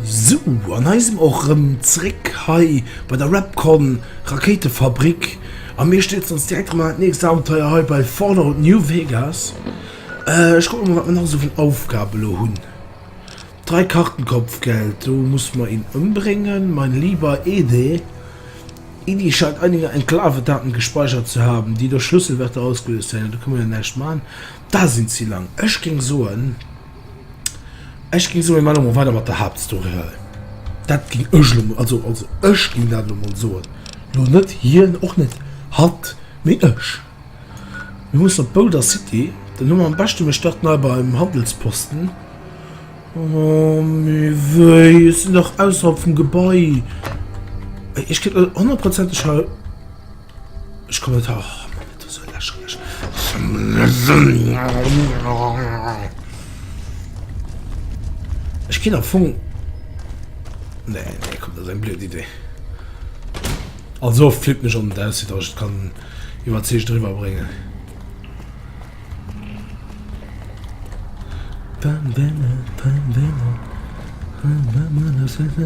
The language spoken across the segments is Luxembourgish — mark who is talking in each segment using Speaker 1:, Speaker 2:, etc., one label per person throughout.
Speaker 1: So an eisem och rëm zréck hei bei der Rapcon Rakéitefabrik a mir steet ons direkt rem an nächst Abenteuer hei bei Fallout New Vegas. Äh, ech kucke mol wat mir nach esou vun Aufgabe lo hunn. Drei Karten Kopfgeld, Du musst mer ihn umbringen, mein lieber Ede. Edie scheint einige Enklavedaten gespeichert zu haben, die durch Schlüsselwörter ausgelöst werden. Da können wir näischt machen. Da sind sie lang. Ech ging soen, ech ging soen, wir machen mal weiter mit der Hauptstory hei. Dat ging ech lo, also, also ech ging dat lo mal soen. Lo net hien, och net hatt, mee ech. Mir mussen op Boulder City. Den Numm am beschte, mir starten hei beim Handelsposten. Oh, mir wéi, es sinn nach ausserhalb vum Gebai. Ech gëtt äh, hundertprozenteg hei. Ech komme net hach. Ech ginn am Fong. Nee, nee, kommt, das ist eine blöde Idee. Also flipp mich an, dass ich kann. Iwwerzeegt eriwwer bréngen.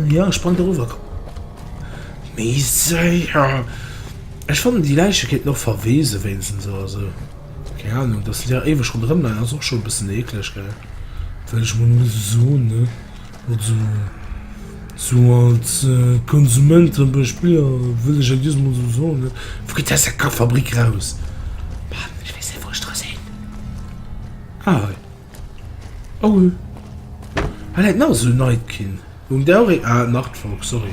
Speaker 1: Jo ech sprang dorower, komm. Méi séier. Ech fannen déi Läiche kéinten och verweese wéinstens oder sou. Keng Ahnung, dass se déi awer éiweg ronderëm leien ass och scho e bëssen eekleg gell, well ech mol muss soen ne. Also, sou als Konsument an duerch Biller wëll ech jo just mol sou soen, ne? Wou geet dess Kackfabrik raus? Mann, ech weess net, wou ech dra sinn. Ah, hei. Oh, hei läit nach esou en Nightkin. Humm, där och een. Ah, Nachtfalk, sorry.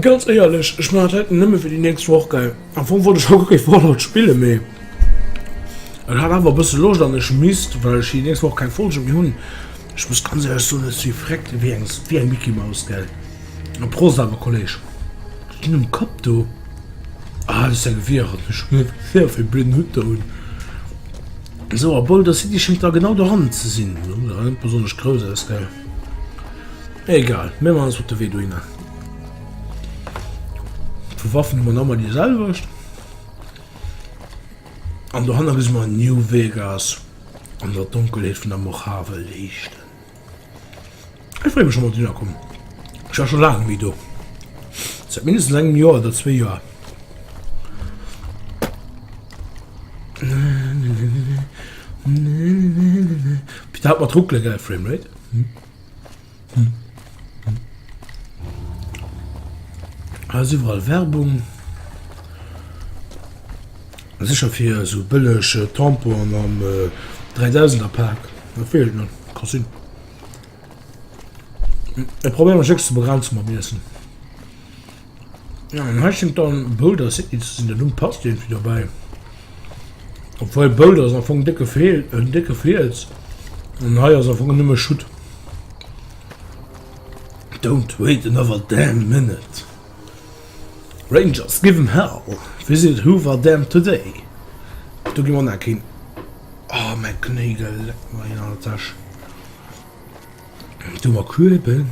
Speaker 1: Ganz éierlech, ech maachen dat haut nëmme fir déi nächst Woch, gell? Am Fong wollt ech haut kee Fallout spillen, mee et hat awer e bësse Loscht an ech misst, well ech déi nächst Woch keng Folge méi hunn. Ech muss ganz éierlech soen, ech si vreckt ewéi eng ewéi eng Micky Maus, gell? A Prost awer, Kolleeg. Wat hues de um Kapp do? Ah, dat ass däi Gewierer, ech hunn net gesinn, wat fir e blöden Hutt der hunn. Sou a Boulder City schéngt da genau doran ze sin, lo sah net besonnesch grouss aus gell? Egal, mir machen ons op de Wee dohinner. Vu Waffen hu mer nammer déi selwecht. An dohanner gesi mer New Vegas an der Donkelheet vun der Mojave leeschten. Ech freeë mech schonn op den Erakom. Ech war scho laang net méi do, säit mindestens engem Joer oder zwee Joer. Fir dat mat ruckele gell, Framerate. Ass iwwerall Werbung. Sécher fir esou bëlleg Tamponen am Dräidausender Pak, dat wéi et net ka sinn. Ech probéieren mech jéchs ze begrenze mam Iessen. An hei schéngt dann Boulder City ze sinn, de Numm passt iergendwéi dobäi. Obwuel Boulder ass am Fong décke Feel, en décke Fiels an hei ass am Fong nëmme Schutt. Don't wait another damn minute. Rangers give 'em hell, visit Hoover Dam today Do gi mer nach keen Oh mäi Knéigel leckt mer een an der Täsch Do mer Kueben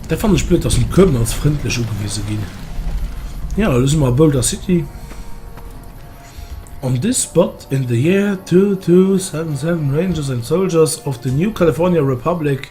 Speaker 1: Dat fannen ech blöd, dass mer d'Kueben als frëndlech ugewise ginn Jo, elo si mer a Boulder City On this spot in the year two two seven seven Rangers and soldiers of the new California Republic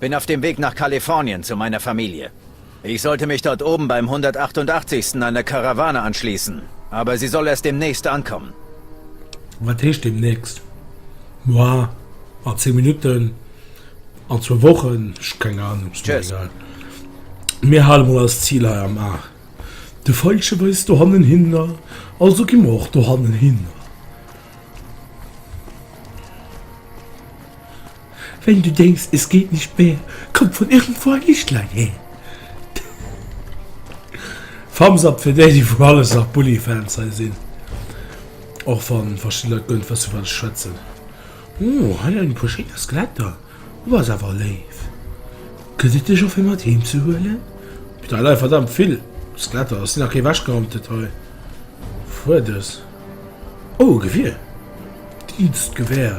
Speaker 1: Bin auf dem Weg nach Kalifornien zu meiner Familie. Ich sollte mich dort oben beim 188. einer Karawane anschließen, aber sie soll erst demnächst ankommen. Wat heescht demnächst? Moar? An zéng Minutten? An zwou Wochen? Ech keng Ahnung, ass mir egal. Mir hale mol eist Zil hei am A. De Veilchen weist dohannen hinner, also gi mer och dohannen hinner. Wenn du denkst, es geht nicht mehr, kommt von irgendwo ein Lichtlein her. Thumbs up fir déi, déi vu alles nach Bully-Fans hei sinn. Och wann verschidde Leit guer net wëssen, wat ech schwätzen. Oh, hei en puer schéiner Skeletter. Du bass awer léif. Gëtt et dech och fir mat heem ze huelen? Putain, hei leie verdammt vill Skeletter. Ass nach kee wechgerammt, dat hei? Fuerders. Oh, e Gewier. Dienstgewehr.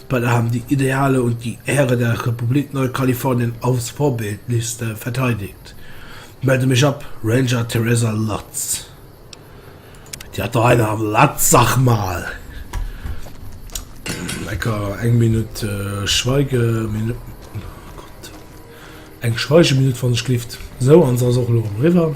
Speaker 1: Bei der Hamm déi Idealer und die Ehre der Republik Neukalifornien aufs Vorbildlichst verteidigt. Melde mich ab, Ranger Teresa Lotz. Déi hat der hei nach am Latz, sag mal! Lecker, eng Minutt Schweigeminutt, oh Gott, eng Schweigeminutt wann ech gelift. Sou, an se ass och elo erëm eriwwer.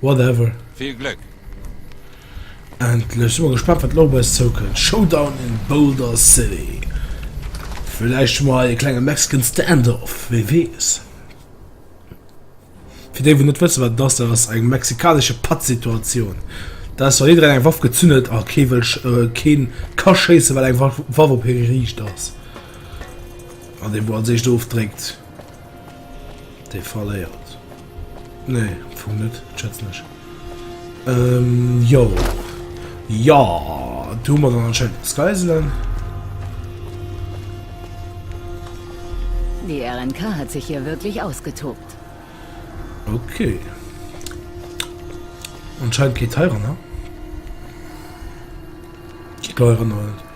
Speaker 1: Whatever. Vill Glëck! Endlech! Sin mol gespannt wat lo op eis zoukënnt. Showdown in Boulder City. Vläicht hu mer hei e klenge Mexican Standoff, wee weess. Fir déi wou net wësse wat dass, dat ass eng mexikanesche Pattsituatioun. Dat ass wann jiddereen eng Waff gezünn huet a kee wëll keen ka schéisse well eng Waff op hie geriicht ass. An dee wou als éischt ofdréckt Dei verléiert. Nee am Fong net, schätzen ech. Ehm jo. Jo do hu mer dann anscheinend eppes geiselen. Di RNK hat sech hier wierklech ausgetobt. Ok. Anscheinend geet heiranner. Ech ka mech erënneren net.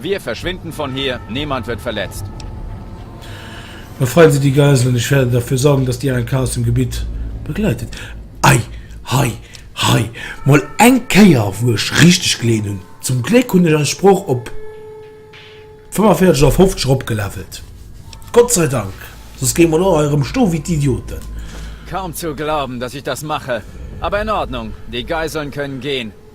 Speaker 1: Wir verschwinden von hier, niemand wird verletzt. Befreit Sie die Geiseln, ich werde dafür sorgen, dass die ANK aus dem Gebiet begleitet wird. Ei, hei, hei, mol eng Kéier wou ech richteg geleet hunn. Zum Gléck hunn ech eis Sprooch op 45 oder 50 eropgelevelt. Gott sei Dank, soss géing mer lo hei erëm stoe wéi d'Idioten. Kaum zu glauben, dass ich das mache, aber in Ordnung, die Geiseln können gehen,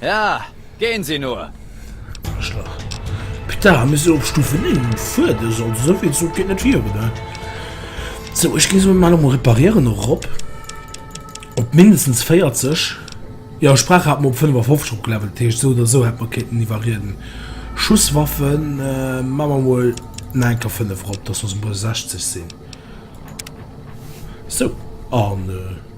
Speaker 1: Ja, gén sie nur! Aarschlach. Putain, hu mir se op Stufe 9 fuer de soll esou vill Sou geet net fir oder wat? Sou ech gin se mol emol reparieren erop op mindestens 40, jo ech brauch haat mer op 55 opgelevelt, heescht sou oder sou hätt mer kéinten iwwerrieden. Schusswaffen man mer mol na enker 5 erop dass mer se bei 60 sin, sou an.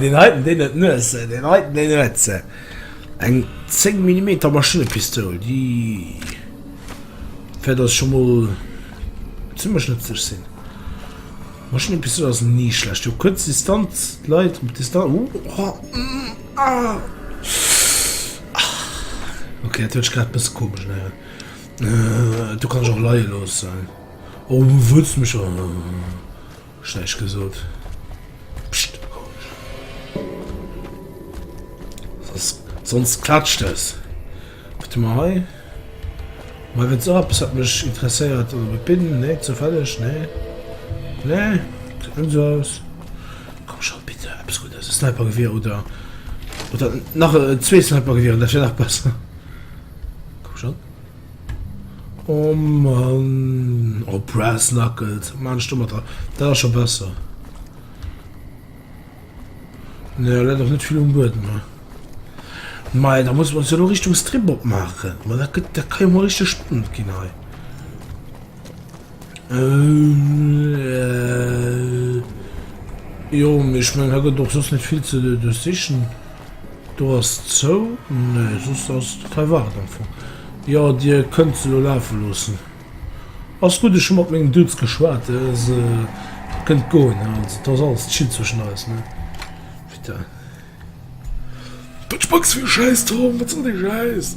Speaker 1: Deen heiten deen huet Nuessen, deen heiten deen huet se. Eng 10 Millimeter Maschinnepistoul, déi wäert ass scho mol zimmlech nëtzlech sinn. Maschinnepistoul ass ni schlecht. Jo kuerz Distanz, Leit op Distanz. Uh, oh, mm, ah. Okay, dat huet grad bësse komesch ne. Äh, du kann ech och leie loossen. Oh, wëlls mech an. Ech näischt gesot. Pscht, komesch. Soss, soss klatscht dës. Wat hu mer hei? Mei wëlls och eppes wat mech interesséiert oder wat bin? Nee, zoufälleg? Nee. Nee, gesäit net esou aus. Komm schon, bitte, eppes Guddes. E Snipergewier oder, oder nach zwee Snipergewieren, dat wär nach besser. Komm schon. Oh Mann, oh Brass Knuckles, wat maachen ech do mat dran? Dat ass scho besser. Ne, dat ass net vill um Buedem. Mei, da muss man se lo Richtung Strip opmaachen. Ma dat gëtt, dat ka jo mol richteg spannend ginn hei. Jo mee ech mengen hei gëtt och soss net vill ze duerchsichen. Do ass zou, nee soss ass total waach am Fong. Jo Dir kënnt se elo lafe loossen. Ass gutt ech hu mat mengen Dudes geschwat, se kënnt goen ne, also et ass alles chill zwëschen eis ne. Putain. Wat spacks fir e Schäiss Tom, wat soll dee Schäiss?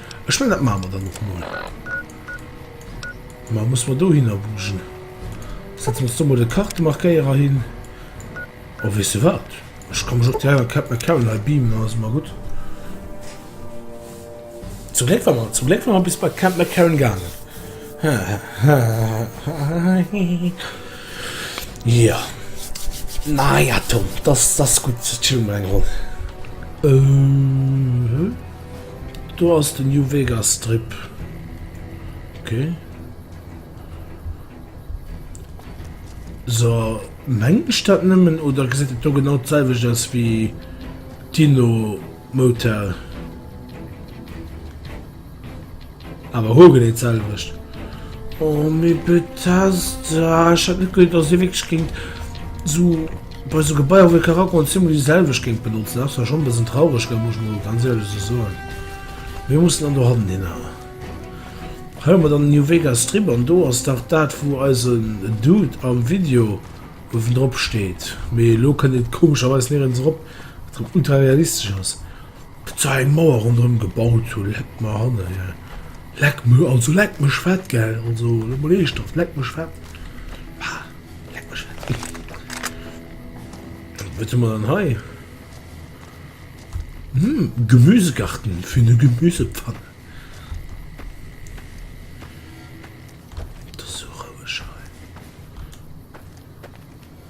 Speaker 1: Ech menn dat maache mer dann och mol. Mä muss mer dohinner bugen. Setze mer ons do mol de Kartemarkéierer hin. Oh weess de wat, ech ka mech och direkt an Cap McCarran hei beamen, dann ass et mar gutt. Zum Gléck war mer, zum Gléck war mer bis bei Cap McCarran gaangen. Jo. Naja Tom, dass, dass gutt. Spille mer eng Ronn. Ëh? Do ass den New Vegas Strip. Ok. So, mengt ech dat nëmmen oder gesäit et do genau d'selwecht aus wéi d'Inno Motel? Awer hol genee d'selwecht. Oh mee Bethesda, ech hat net gewinnt dass dir wierklech géingt sou bei sou Gebaier wou ee ka rakommen zeemol déi selwecht géingt benotzen. Ass zwar schonn e bëssen traureg gëll muss ech mol ganz éierlech sou soen. Mir mussen dann dohannen hin awer. Hei hu mer dann den New Vegas Strip an do ass dach dat wou eisen Dude am Video uewen drop steet. Mee elo kënnt eent komescherweis nirens erop wat drop ultra realistesch ass. Za eng Mauer ronderëm gebaut hu leck mer hanne gell leck me also leck mech fett gell also lo mol eeschthaft leck mech fett bah leck mech fett Hm wat hu mer dann hei Hm Gemüsegarten fir ne Gemüsepfanne Et ass sou roueg hei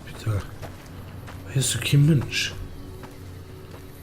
Speaker 1: Putain hei ass jo kee Mënsch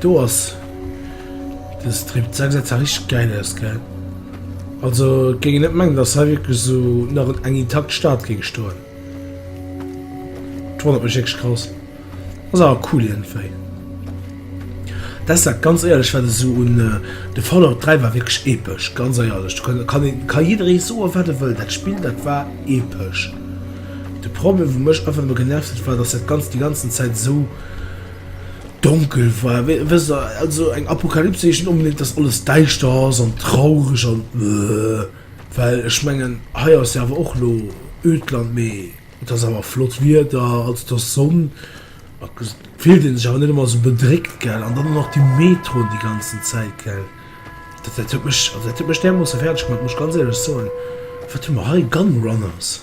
Speaker 1: Do ass den Strip 6 richteg geil aus gell? Also géing net mengen dass hei wierklech sou nach eng intakt Stad géing stoen. D'wonnert mech wierklech grouss. Ass awer cool iergendwéi. Dest dat ganz éierlech wat esou un de Fallout 3 war wierklech epesch ganz éierlech. Do kann kann een ka jidderee soen wat e wëll, dat Spill dat war epesch. De Problem wat mech einfach nëmme genervt huet war dass dat ganz déi ganzen Zäit esou. Donkel war, wësst der, also eng Apokalypse heescht net onbedéngt, dass alles däischter ass an traureg an öööh. Well ech mengen, hei ass jo awer och elo öd Land, mee et ass awer flott Wieder, also et ass Sonn, da fillt ee sech awer net ëmmer esou bedréckt, gell. An dann nach déi Metroen déi ganzen Zäit, gell, dat dat huet mech, also dat huet mech därmoosse fäerdeg gemaach, muss ech ganz éierlech soen. Wat hu mer hei? Gunrunners?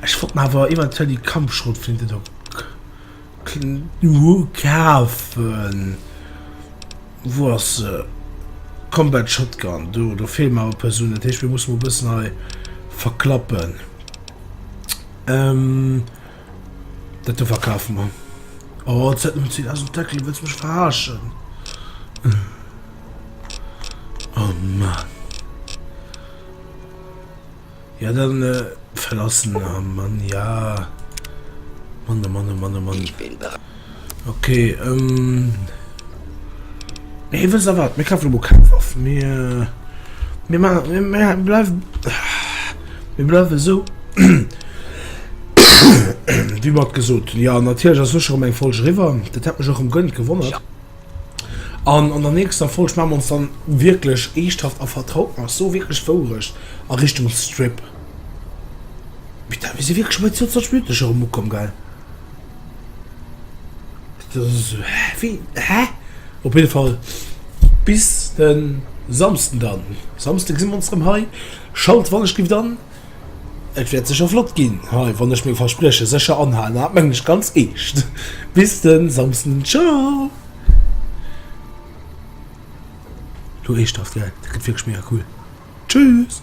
Speaker 1: Ech wollt mer awer eventuell déi Kampfschrotflinte do kafen. Wou ass se? Combat Shotgun. Do, do feelen mer awer Persounen. Dat heescht, mir mussen mol e bëssen hei verklappen. Dat do verkafe mer. Oh, d'Zäit huet si aus dem Deckel. Wëlls mech verarschen? Oh Mann. Ja dann verlassen am Mann ja Mann oh Mann oh Mann oh Mann Ich bin bereit Ok ähm Nee wëss der wat mir kafen emol keng Waff mir mir maachen mir bleiw mir bleiwen esou wéi mer et gesot hunn. Jo natierlech ass elo scho rem eng Folg eriwwer, dat hat mech och rem gënnt gewonnert. An an der nächster Folg maa mer ons dann wierklech eeschthaft a vertraut nach so wierklech wourecht a Richtung Strip. Putain mir si wierklech bei 22 Minutten scho rem ukomm gell? Dat ass esou wéi hä? Op jidde Fall bis den Samsden dann. Samsde gesi mer ons rem hei. Schalt wann ech giff dann. Et wäert sécher flott ginn hei, wann ech meng Versprieche sécher anhalen, an dat mengen ech ganz eescht. Bis de Samsden, tschau! Lo eeschthaft gell, dat gëtt wierklech mega cool. Tschüss!